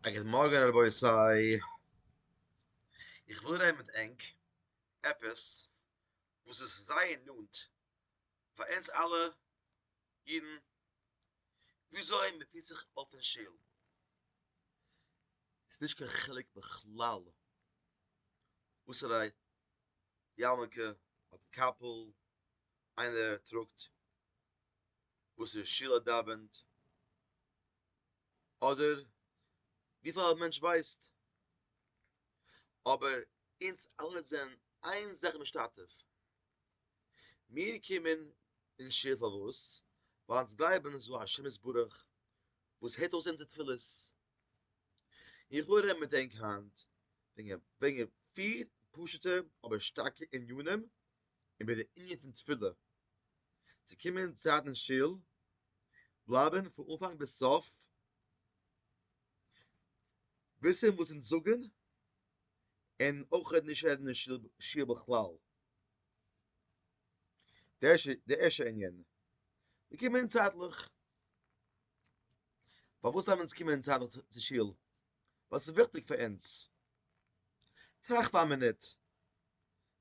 א גוט מארגן רבותי, איך וויל רעדן מיט ענק עפעס וואס איז זייער נאנט פאר אונז אלע אידן, וויאזוי מען פירט זיך אויף אין שול, ס'איז נישט קיין חילוק בכלל וואסערע יארמולקע אדער קאפל איינער טראגט, וואסערע שול ער דאווענט, אדער וויפיל א מענטש ווייסט, אבער אונז אלע זענען איין זאך משתתף, מיר קומען אין שול פארוואס? ווייל אונז גלייבן ס'איז דא א השם יתברך וואס הערט אויס אונזער תפילות, לכאורה מען דענקט היינט וועגן פיר פשוט'ע אבער שטארקע ענינים איבער די ענין פון תפילה, צו קומען צייט אין שול, בלייבן פון אנפאנג ביז סוף, וויסן וואס אונז זאגן, און אויך נישט רעדן אין שול בכלל. די ערשטע ענין, מיר קומען צייטליך, פארוואס דארף מען אונז קומען צייטליך צו שול? וואס איז וויכטיג פאר אונז? טראכט פאר א מינוט.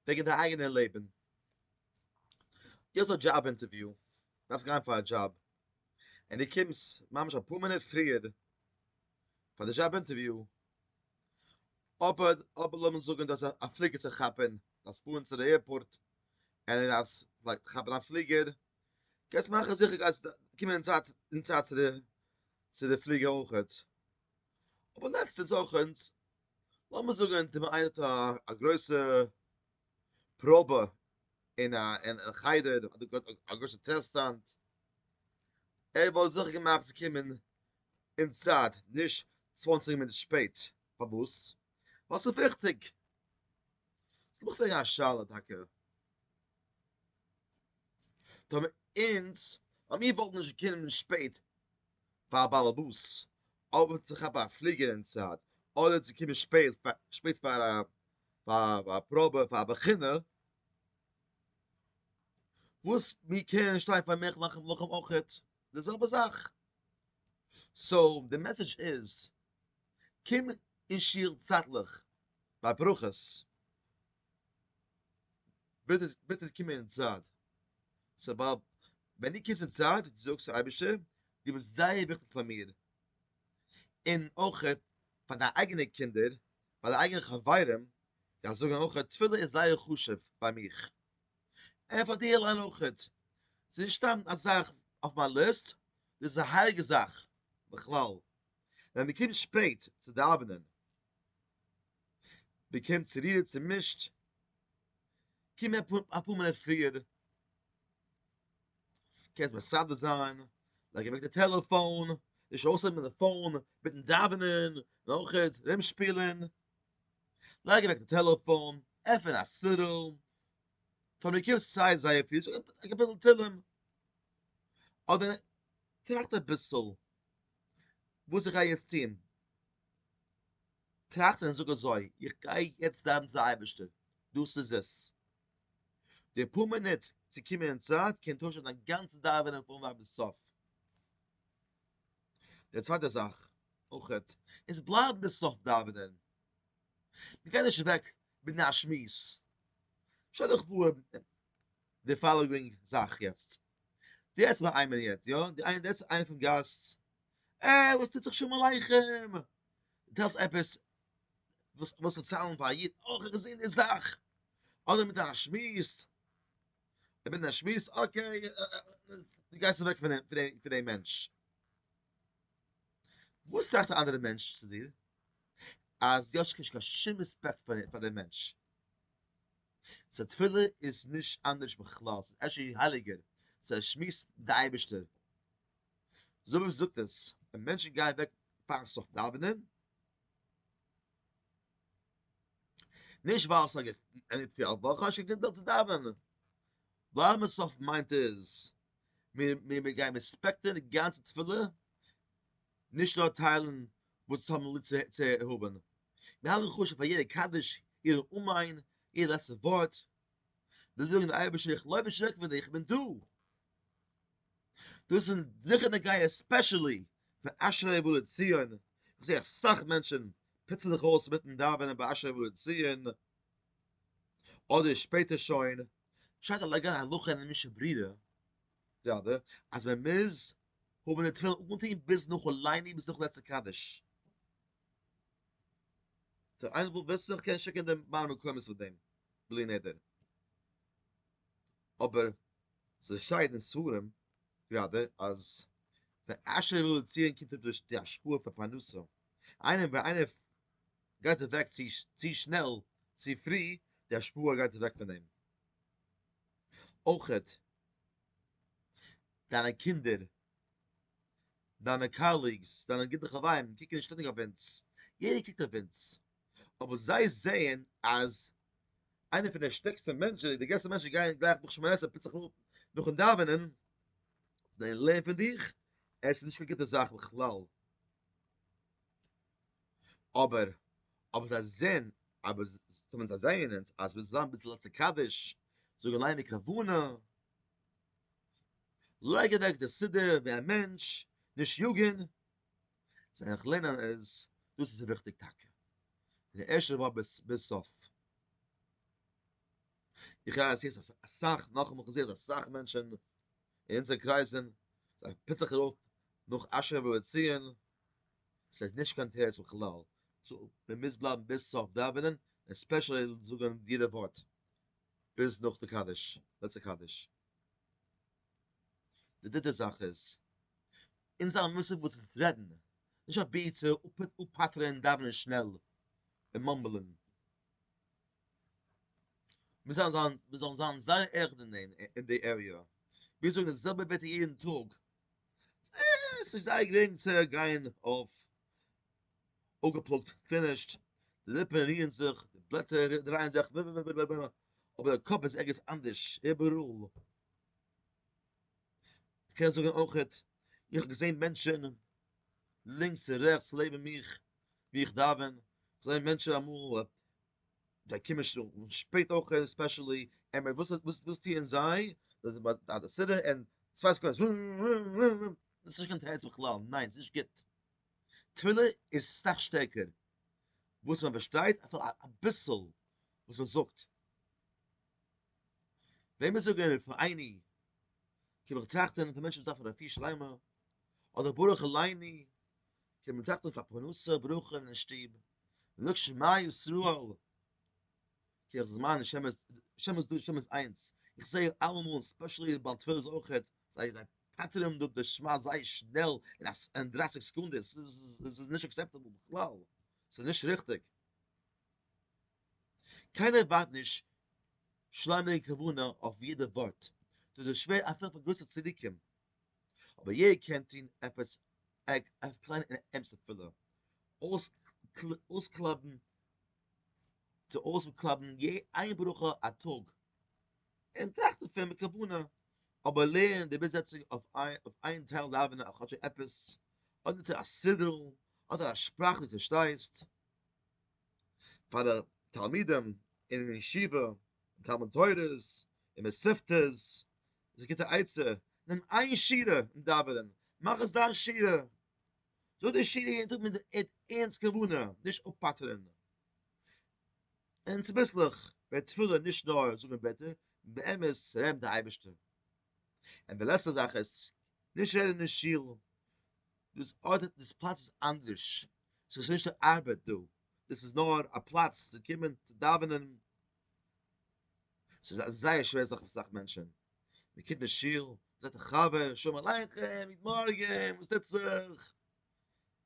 וועגן דיין אייגענע לעבן, דו האסט א דזשאב אינטערוויו, דארפסט גיין פאר א דזשאב, און דו קומסט ממש אפאר מינוט פריער פאר די דזשאב אינטערוויו, אבער אבער לאמיר זאגן דו האסט א פליגער צו כאפן, דארפסט פארן צו די עירפארט, און דו דארפסט כאפן א פליגער, גייסט מאכן זיכער גייסט קומען אין צייט אין צייט צו די צו די פליגער אויכעט, אבער לעצטענס אויכעט. לאמיר זאגן אז אונטער איינער האט א גרויסע פראבע אין א חדר א גרויסע טעסטאנט, ער וואלט זיכער געמאכט צו קומען אין צייט נישט צוואנציג מינוט שפעט, פארוואס? ווייל ס'איז וויכטיג. סאו לאמיך פרעגן א שאלה טאקע, טאמער אונז, אז מיר וואלטן נישט געקומען שפעט פאר א בעל הבית אויב צו כאפן א פליגער אין צייט אדער צו קומען שפעט פאר א פראבע פאר א בחינה, וואס מיר קענען שטיין פאר נעכט נאכן מלחמה אויכעט די זעלבע זאך, סאו די מעסעדזש איז, קום אין שול צייטליך ביי ברכות, ביטע קום אין צייט, ווען דו קומסט אין צייט און דו זאגסט אייבערשטער דו ביסט זייער וויכטיג פאר מיר, און אויכעט פאר דיין אייגענע קינדער, פאר דיין אייגענע חברים, זיי זאגן אויכעט תפילה איז זייער חשוב ביי מיך, און פאר דיר אליין אויכעט, ס'איז נישט סתם א זאך אויף מיין ליסט, דאס איז א הייליגע זאך, בכלל ווען מען קומט שפעט צו דאווענען, מען קומט צורירט צומישט, קום אפאר מינוט פריער, קענסט מסדר זיין, לייג אוועק די טעלעפאון, נישט אויסהייבן די פאון מיטן דאווענען, נאכעט ארום שפילן, לייג אוועק די טעלעפאון, עפן א סידור, טאמער דו קומסט סיי זייער פרי זאג א קאפיטל תהלים, אדער טראכט אביסל וואס איך גיי יעצט טון, טראכט און זאג אזוי, איך גיי יעצט דאווענען צום אייבערשטער, דאס איז עס. די פאר מינוט צו קומען אין צייט קען טוישן דיין גאנצע דאווענען פון אנפאנג ביז סוף. די צווייטע זאך אויך איז בלייבן ביז סוף דאווענען, מען גייט נישט אוועק בינען א שמועס, שטעל דיך פאר די פאלאווינג זאך יעצט, דו רעדסט מיט איינעם יעצט יא, די איינער רעדסט איינער פון גאס, ער וואס טוט זיך שלום עליכם, דו טעלסט עפעס וואס וואס וועט ציילן פאר א איד, אוי כ'האב געזען די זאך, אדער מיט א שמועס, ער בעט א שמועס, אקעי, דו גייסט אוועק פון פון דעם מענטש. וואס טראכט די אנדערע מענטש צו דיר? אז דו האסט נישט קיין שום רעספעקט פאר דעם מענטש. סאו תפילה איז נישט אנדערש בכלל, ס'איז אפשר הייליגער, ס'איז א שמועס מיט די אייבערשטער. זאב זאגט עס, ווען מענטשן גייען אוועק פאר'ן סוף דאווענען, נישט ווייל ס'איז א געפיל פאר וואך האסט נישט קיין געפיל צו דאווענען, ווארעם עס אויף מיינט איז מיר גייען רעספעקטען די גאנצע תפילה, נישט נאר טיילן וואס עס האבן ליב צו האבן, מיר האלטן חשוב פאר יעדע קדיש, יעדע אמן, יעדע לעצטע ווארט, מיר זאגן אייבערשטער איך לויב און שרעק פון דיר, איך בין דא, דאס איז זיכער נוגע עספעשעלי פאר אשרי ובא לציון, איך זע אסאך מענטשען פיצן זיך אויס מיטן דאווענען ביי אשרי ובא לציון, אדער שפעטער שוין, שטייט א לאגא הלכה אין משנה ברורה גראדע אז מען מוז האבן די תפילין אנגעטון ביז נאך עולני ביז נאך לעצה קדיש, טא איינער וואס וויסט איך קען שיקען די מראה מקומות פון דעם בלי נדר. אבער ס'איז שייד אין ספרים גראדע אז די עשה רע לציון קומט אפ דורך די השפעה פון פרנסה, איינער ווען איינער גייט אוועק צו שנעל צו פרי די השפעה גייט אוועק פון אים, אויכעט דיינע קינדער, דיינע קאליגס, דיינע גוטע חברים קוקן שטענדיג אויף אונז, יעדער קוקט אויף אונז. אבער זיי זעען אז איינער פון די שטערקסטע מענטשען די גרעסטע מענטשען גייען גלייך נאך שמונה עשרה פסח נאכן נאכן דאווענען זיי לערן פון דיך עס איז נישט קיין גוטע זאך בכלל אבער אבער זיי זעען אבער זיי זעען אונז אז מיר זענען ביז לצ קדש זאגן ליינען כוונה לייג אוועק די סידור ווי א מענטש נישט יאגען זיי איך ליין אז דאס איז וויכטיג טאקע די ערשטע ווארט ביז סוף איך הער אז ס'איז אסאך נאך מאל געזעהן אסאך מענטשן אין אונזער קרייזן זיי פיצן זיך ארויף נאך אשר ולציון ס'איז נישט קיין תירוץ בכלל צו מ'מוז בלייבן ביז סוף דאווענען און ספעשעלי זאגן יעדע ווארט ביז נאך די קדיש לעצטע קדיש די דריטע זאך איז אין זיין מושג וואס איז רעדן, נישט אבי צו אפפאטרען דאווענען שנעל און מאמבלען. מיר זאלן זיין מיר זאלן זיין זייער עכט אין דעם אין די עריע. מיר זאגן די זעלבע ווערטער יעדן טאג. ס'איז נישט זייער גרינג צו גיין אויף אפגעפלאגט, פינישט, די ליפן רירן זיך, די בלעטער דרייען זיך, אבער די קאפ איז ערגעץ אנדערש, איבעראל. איך קען זאגן אויך, איך האב געזען מענטשן לינקס און רעכטס לעבן מיך ווי איך דאווען, זענען מענטשן אמאל זיי קומען שפעט אויך ספעשעלי, עמער וואס וואס טוען זיי? זיי זענען ביי די סידור און צוויי סעקונדעס וואו וואו וואו וואו, דאס איז נישט קיין תירוץ בכלל, ניין ס'איז נישט גוט, תפילה איז סאך שטערקער וואס מען באשטייט, אביסל וואס מען זאגט. ווען מיר זאגן רפא עיני קען מען טראכטן פאר מענטשן וואס דארפן רפואה שלימה, אדער ברוך אל עיני קען מען טראכטן פאר פרנסה ברוכה אין שטוב, מען זאגט שמע ישראל כי איך זעמען נישט שמות שמות דא שמות איינס, איך זע אלעמאל ספעשעלי בעל תפלות אויך זיי זיי פטר'ן דא די שמע זייער שנעל אין דרייסיג סעקונדעס, עס איז נישט עקסעפטעבל בכלל, עס איז נישט ריכטיג. קיינער ווארט נישט שלאנג כוונה אויף יעדע ווארט, דאס איז שווער אפילו פאר גרויסע צדיקים, אבער יעדער קען טון עפעס א קליינע און אמת'ע פעולה, אויסקלויבן צו אויסקלויבן איין ברכה א טאג, און טראכט דערפון מיט כוונה, אבער לערנען די ביז יעצטיגע אויף איין טייל דאווענען אויף כאטש עפעס, אדער טו א סידור, אדער א שפראך דו פארשטייסט. פאר די תלמידים אין ישיבה און תלמוד תורה'ס און מסכתות, זיי גיט א עצה, נעם איין שורה אין דאווענען, מאך עס דיין שורה, זאג די שורה יעדן טאג מיט ערנסט כוונה, נישט אפפאטערן, און צוביסלעך ווערט תפילה נישט נאר זאגן ווערטער, באמת רעדן די אייבערשטער. און די לעצטע זאך איז, נישט רעדן אין שול. דאס ארט דאס פלאץ איז אנדערש, ס'איז נישט די ארבעט דא, דאס איז נאר א פלאץ צו קומען צו דאווענען, ס'איז א זייער שווער זאך פאר אסאך מענטשען, מען קומט אין שול, מען זעט א חבר, שלום עליכם, גוט מארגען, וואס טוט זיך?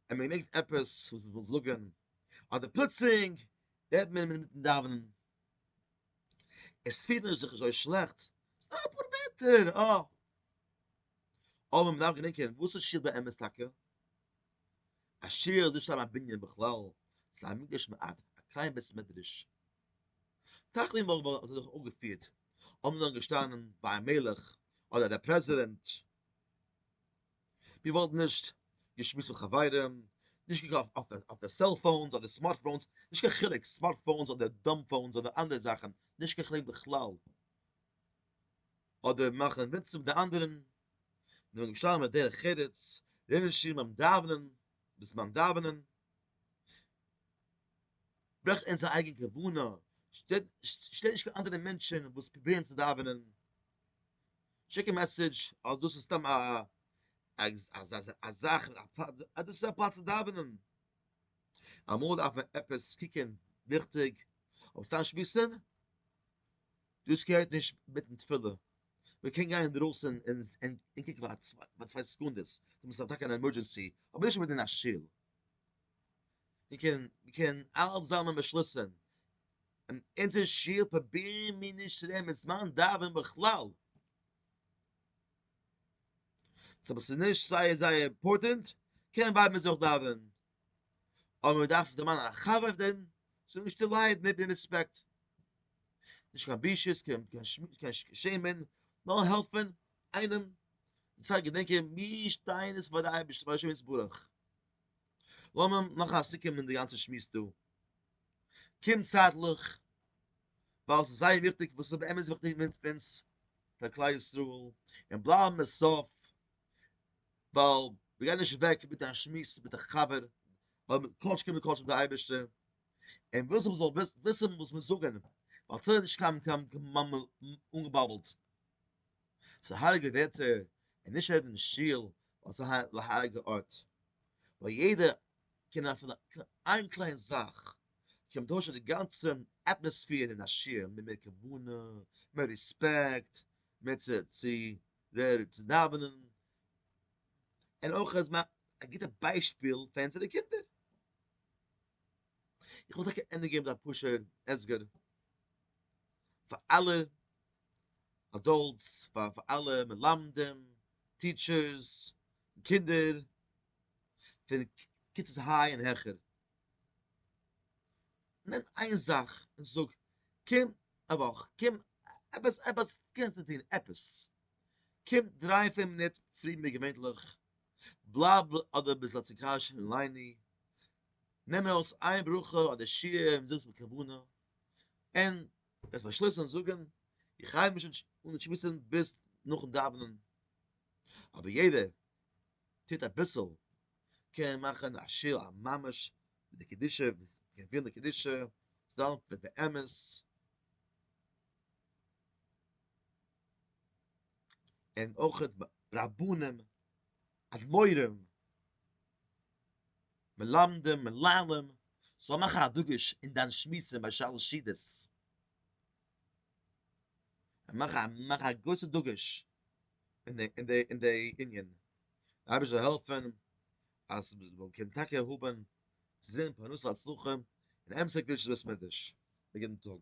און מען מעג עפעס וואס מען וויל זאגען, אדער פלוצלינג ווערט מען אינמיטן דאווענען, עס פירט מען זיך נישט אזוי שלעכט, ס'איז נאר אפאר ווערטער, אה! אבער מ'דארף גענוי קענען וואס איז שיר באמת טאקע? א שיר איז נישט סתם א בנין בכלל, ס'איז א מקדש מעט, א קליין בית מדרש. תחנון וואך וואלט זיך דאך אפגעפירט אויב מ'איז דאן געשטאנען ביי א מלך אדער דער פרעזידענט, מ'וואלט נישט געשמועסט מיט חברים, נישט געקאכט אויף די סעלפאונס אדער סמארטפאונס, נישט קיין חילוק סמארטפאונס אדער דאמפאונס אדער אנדערע זאכן, נישט קיין חילוק בכלל, אדער מאכן מצוה די אנדערען נאר ירושלים איז דרך ארץ רוב אנשי ביים דאווענען בזמן דאווענען ברויך עס א אייגענע כוונה שטער שטער נישט קיין אנדערע מענטשען וואס פרובירען צו דאווענען שיק א מעסעדזש אז דאס איז סתם א א זאך אז דאס איז א פלאץ צו דאווענען אמאל דארף מען עפעס קוקען וויכטיג אבער סתם שמועסען דאס געהערט נישט מיטן תפילה, מען קען גיין אינדרויסן און קוקן פאר צוויי סעקונדעס, אויב עס איז טאקע אן עמורדזשענסי, אבער נישט אינמיטן א שול, מען קען אלץ זאמלען באשלוסן, אין אונזער שול פראבירן מיר נישט צו רעדן מיט זמן דאווענען בכלל, סא אויב עס איז נישט זייער זייער אימפארטענט קען מען בלייבן אינזין דאווענען, אבער מען דארף דערמאנען א חבר אויף דעם זאל נישט ליידן אויב די ריספעקט נישט קיין בושות קיין שעמען נאר העלפן איינעם און צוויי געדענקען מיר שטייען עס פאר די אייבערשטער פאר השם יתברך לאמיר מאכן א סיכום אין די גאנצע שמועס דא קומט צייטליך ווייל ס'איז זייער וויכטיג וואס איז באמת וויכטיג מיט אונז פאר כלל ישראל און בלייבן עס אויף ווייל מען גייט נישט וועק מיט א שמועס מיט א חבר, אויב מען קאלט קען מען קאלט אויף די אייבערשטער, און וויסן מען זאל וויסן וואס מיר זאגן, ווייל סאיז נישט קיין קיין אנגעבאבלט, סאיז הייליגע ווערטער, און נישט רעדן אין שול, ווייל סאיז א הייליגע ארט, וואו יעדער קען אפילו איין קליין זאך קען טוישן די גאנצע אטמאספער אין א שיעור, מיט מער כוונה, מער רעספעקט, מער צו צו ווער צו דאווענען, און אויך אז מע א גוטע ביישפיל פאר אונזערע קינדער. איך וויל טאקע ענדע געבן א פשוט הסבר פאר אלע אדאלטס, פאר פאר אלע מלמדים, טיטשערס, קינדער, פון כיתות היי און העכער, נעם איין זאך און זאג קום א וואך קום עפעס עפעס קומסט צו טון עפעס קום דריי פיר מינוט פריער ווי געווענליך בלייב אדער ביסט לעציקאש און לייני נעם ארויס איין ברכה אדער שיעור און זאג עס מיט כוונה און וועסט באשלוסן זאגן איך הייב נישט אן צו שמועסן ביז נאכן דאווענען אבער יעדער טוט אביסל קען מאכן א שיעור א ממש ווי די קדישה ווי עס קען פירן די קדישה זאלן ווען באמת און אויך רבנים אדמורים מלמדים מנהלים זאל מאכן א דגוש אין דיין שמועסן ביי שלש סעודות מאך א גרויסע דגוש אין די אין די ענין די אייבערשטער זאל העלפען אז מען קען טאקע האבען צו זען פרנסה והצלחה און אמת'ע קדושת בית מקדש די גוטן טאג.